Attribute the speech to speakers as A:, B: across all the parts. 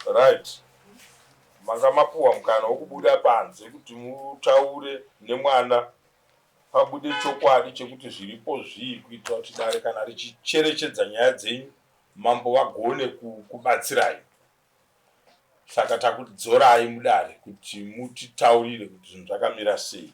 A: Right. Manga mapuwa mukana wokubuda panze kuti mutaure nemwana pabude chokwadi chekuti zviripo zvii kuitira kuti dare kana richicherechedza nyaya dzenyu mambo vagone kubatsirai. Saka takudzorai mudare kuti mutitaurire kuti zvinhu zvakamira sei.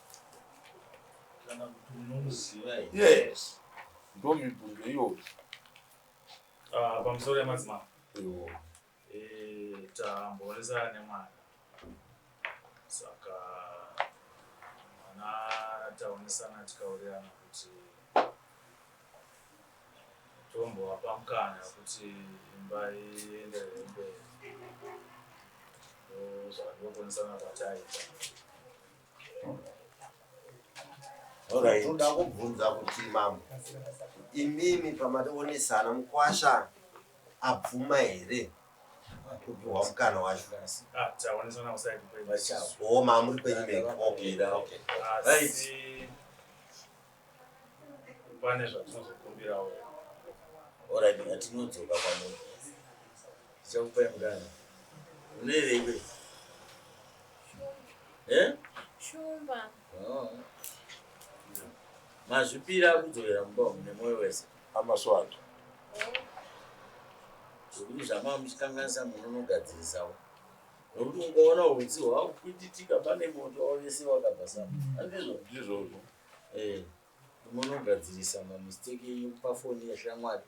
A: kana kuti unomuziva here yes ndomibvunzo iyoyo ah,
B: pamusoro yemadzimambo eh, tambonesana nemwana saka mwana taonesana tikaurirana kuti tombovapa mukana kuti imba ienderere mberi zvandinokonesana kwataita
C: Alright. toda kubvunza kuti mambo imimi pamationesana mukwasha abvuma here kupihwa mukana wacho Ah, taonesana
B: kuside kwenyu. Vachawo. o mamuri
C: kwenyu mega okay okay Asi
B: pane zvatinozokumbirawo
D: oradi ngatinodzoka kwamuri ndichakupai mukana unoyeveikwe
E: eh? shumba oh.
D: mazvipira kudzokera mumba umu nemwoyo wese amaswatu zvekuti zvamava muchikanganisa munonogadzirisawo nokuti ungaona utsi hwakukwititika pane moto wavese wakabva sapa andizvo ndizvozvo
A: Eh, unogadzirisa
D: mamistake yekupa foni yeshamwari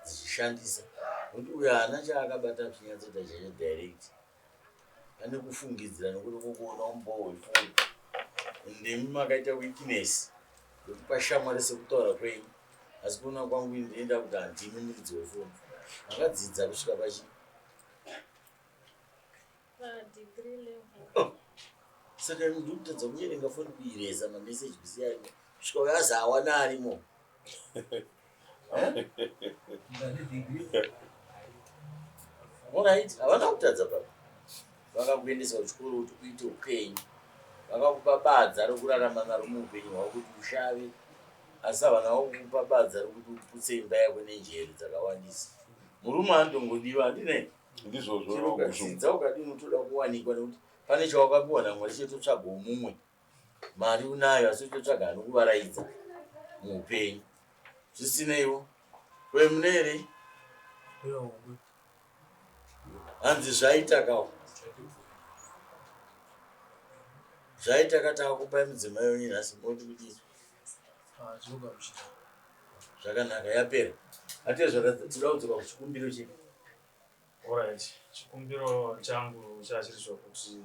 D: dzichishandisa nokuti uyo haana chaakabata chinyatsoita chacho direct ane kufungidzira nokuti kukuona umbowo wefoni ndimi makaita weakness yekupa shamwari sekutaura kwenyu asi kuona kwangu ndinoenda kuti handimi muridzi wefoni makadzidza kusvika pachii
E: saka
D: imi ndiri kutadza kunyerenga foni kuireza mameseji bisi arimo kusvika uyo azi hawana arimo orit havana kutadza baba vakakuendesa kuchikoro kuti uite upenyu vakakupa badza rokurarama naro muupenyu hwavo kuti ushave asi havana vakukupa badza rokuti uputse imba yako nenjere dzakawandisa murume andongodiwa handinei ndizvozvo chero vakushunga.
A: ukadzidza ukadini
D: unotoda kuwanikwa nekuti pane chawakapiwa namwari chetotsvagawo mumwe mari unayo asi utotsvaga anokuvaraidza muupenyu zvisineiwo kwe mune here hanzi zvaitakawo zvaitaka taakupai mudzimai wenyu nhasi moti kuti Ah, tinogamuchira. Zvakanaka, yapera. Atezvara, tinoda kudzoka kuchikumbiro chedu. Alright,
B: chikumbiro changu chachiri chokuti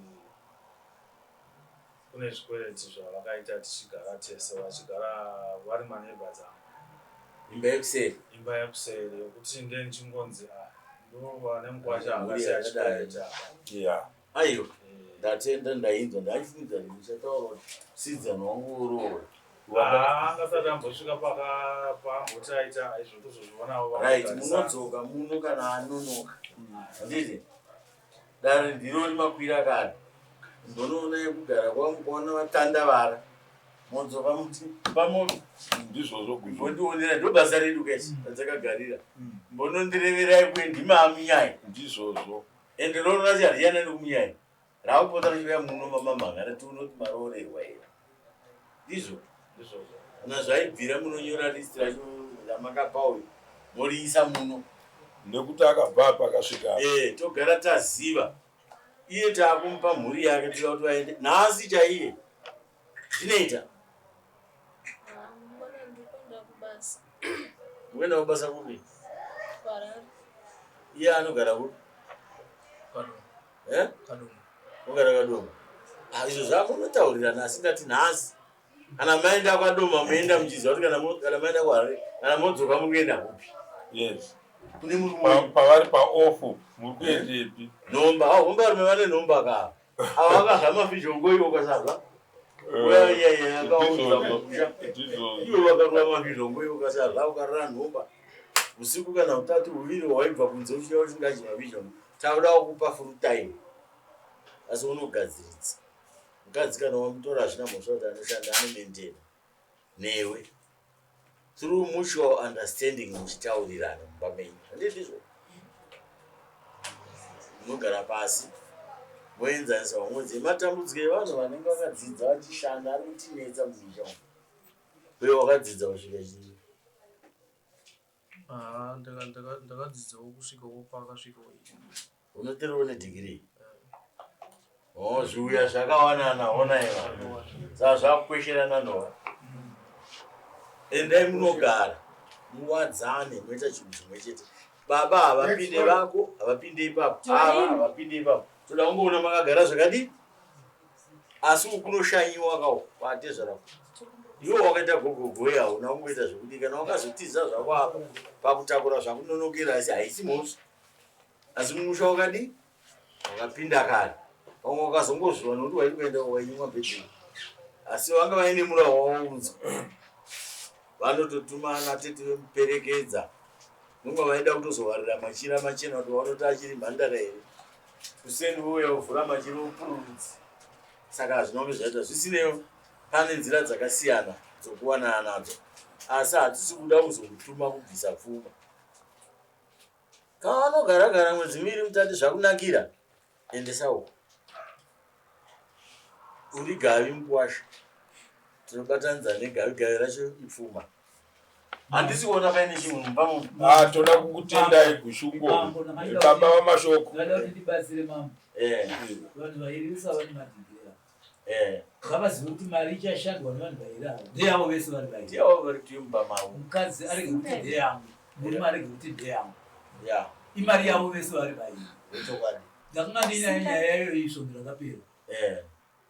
B: kune zvikwereti zvavakaita tichigara tese vachigara vari maneighbors angu Imba
D: yekuseri. imba yekuseri
B: yokuti ndiye ndichingonzi ah, ndova nemukwacha Mhuri akasiya yakadai. chikwereti apa Yeah. Aiwa,
D: ndatenda ndainzwa ndaifunga kuti ndichataura kuti sidzana wangu oroora. Ah, angasati
B: ambosvika paka- paamboti aita izvo tozozvionawo vamwe Right, kutarisana. munodzoka
D: muno kana anonoka. Handiti? Dare ndiro rimakwira kare. Ndonoona yekugara kwangu kwaona vatandavara. Modzoka muti pamoto. Ndizvozvo
A: guzvo. Mbondionera ndobasa
D: redu guys radzakagarira. Mbonondireverai kuye ndimami nyaya. Ndizvozvo.
A: Ende roora racho
D: hariyana nekumunyanya rakupota richiuya muno mamamhanga rati unoti maroorerwa here ndizvo kana zvaibvira munonyora list racho ramakapa uyu moriisa muno nekuti
A: akabva apa akasvika e togara
D: taziva iye taakumupa mhuri yake tira kuti vaende nhasi chaiye Zvinoita.
E: Mwana ndikuenda kubasa. Mukuenda
D: kubasa kupi?
E: Kuharare. Iye
D: anogara kupi? Kadoma. Eh?
F: Kadoma. Ogara Kadoma.
D: Ah, izvo zvako unotaurirana asi ndati nhasi kana maenda kwadoma muenda muchiziva kuti kana maenda kuharare kana modzoka muri kuenda kupi yes
A: kune murume
D: pavari
A: paofu
D: muri
A: kuendepi
D: nhomba
A: ah,
D: hombe varume vane
A: nhomba
D: kaa usiku kana utatu huviri waibva kunze uchiya usingachi mavision taudawo kupa full time asi unogadziridza mukadzi kana wamutora hazvina mhosva kuti anoshanda anomendera newe through mutual understanding muchitaurirana mumba menyu handiti izvo munogara pasi moenzanisa vamwedzi matambudziko evanhu vanenge vakadzidza vachishanda ari kutinetsa mumusha umu uye wakadzidza kusvika chii
B: Haa ndakadzidzawo kusvika wo pakasvika wo ii. Unotere
D: une degree? Oh, zviuya zvakawanana hona iva. Saka zvakukwesherana ndova. Endai munogara. Muwadzane moita chinhu chimwe chete. Baba havapinde vako, havapinde ipapo. Ava havapinde ipapo. Toda kungoona makagara zvakadii? asi uku kunoshanyiwa ka uku kwatezvara uku iwe wakaita gogogoe hauna kumboita zvekuti kana wakazotiza zvako apa pakutakura zvakunonokera asi haisi mhosva asi musha wakadii wakapinda kare vamwe wakazongozviwa nokuti wairi kuenda wainyimwa bhedheni asi vanga vaine murawo wawaunzwa vanototumana tete vemuperekedza nonga vaida kutozovarira machira machena kuti vanoti achiri mhandara here Kuseni vouya vovhura machero opururudzi saka hazvinove zvaita zvisineyo pane nzira dzakasiyana dzokuwanana nadzo asi hatisi kuda kuzokutuma kubvisa pfuma kana anogara gara mwedzi miviri mutati zvakunakira endesa uko uri gavi mukwasha tinobatanidza negavi gavi racho ipfuma handisi kuona paine chinhu mumba mumu Ah, toda kukutendai
A: kushungo Mambo, namai baba Daudi. vamashoko Vanoda kuti ndibatsire
F: mambo. Eh, Vanhu vairi usa vane madhidhiri ava. eh. Ngavazive kuti mari ichashandwa nevanhu vairi ava. Ndeyavo vese vari vairi. Ndiye wava vari tiyo mumba mavo
D: Mukadzi arege kuti
F: ndeyangu. Murume arege kuti ndeyangu. ya Imari yavo vese vari vairi. ichokwadi Ndakanga ndiinayo nyaya yayo isvo ndakapera. Eh,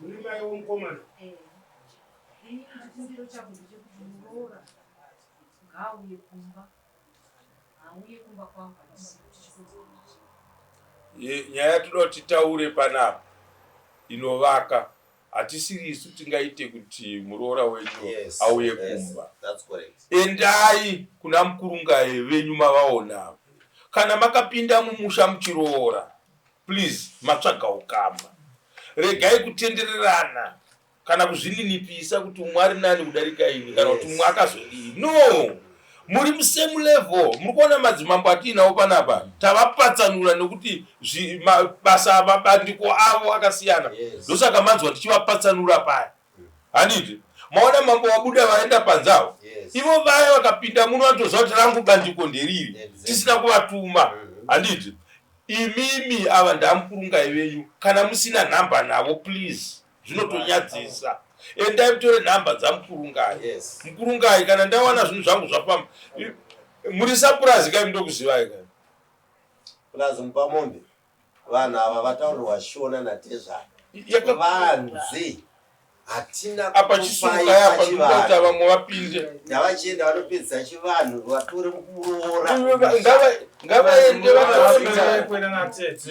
D: Muri
G: mai womukomana. Eh. Ini chikumbiro changu ndechekuti muroora ngaauye kumba. Auye kumba kwangu handisi kuti chikonzero
A: chii. Ye- nyaya yatinoda kuti titaure panapa inovaka hatisiri isu tingaite kuti muroora wenyu Yes, auye yes, kumba That's correct. endai kuna mukurungaye venyu mavaona ava. kana makapinda mumusha muchiroora Please matsvaga ukama. Regai kutendererana kana kuzvininipisa kuti umwe ari nani kudarika ini kana kuti umwe akazodii. No! Muri musame level. Muri kuona madzimambo atiinawo panapa tavapatsanura nekuti basa mabandiko avo akasiyana. Ndosaka manzwa tichivapatsanura paya. handiti maona mambo vabuda vaenda panze avo ivo vaya vakapinda muno vatoziva kuti rangu bandiko nderiri tisina kuvatuma mm-hmm. handiti imimi ava ndamukurungai venyu kana musina nhamba navo please zvinotonyadzisa endai mutore nhamba dzamukurungai yes. mukurungai kana ndawana zvinhu zvangu zvafamba muri sapurazi kai mudokuzivai kai
C: purazi mupamombe Vanhu ava vataurirwa shona na tezvara Yaka- vanzi hatina apa chisuruka kukupai
A: yapa ndikuti pachivanhu vamwe vapinde ndavachienda vanopedzisa
C: chivanhu vatore muroora
B: Ngava-
C: ngavaende
A: Vanofanira
B: vanoona
C: kuenda natete.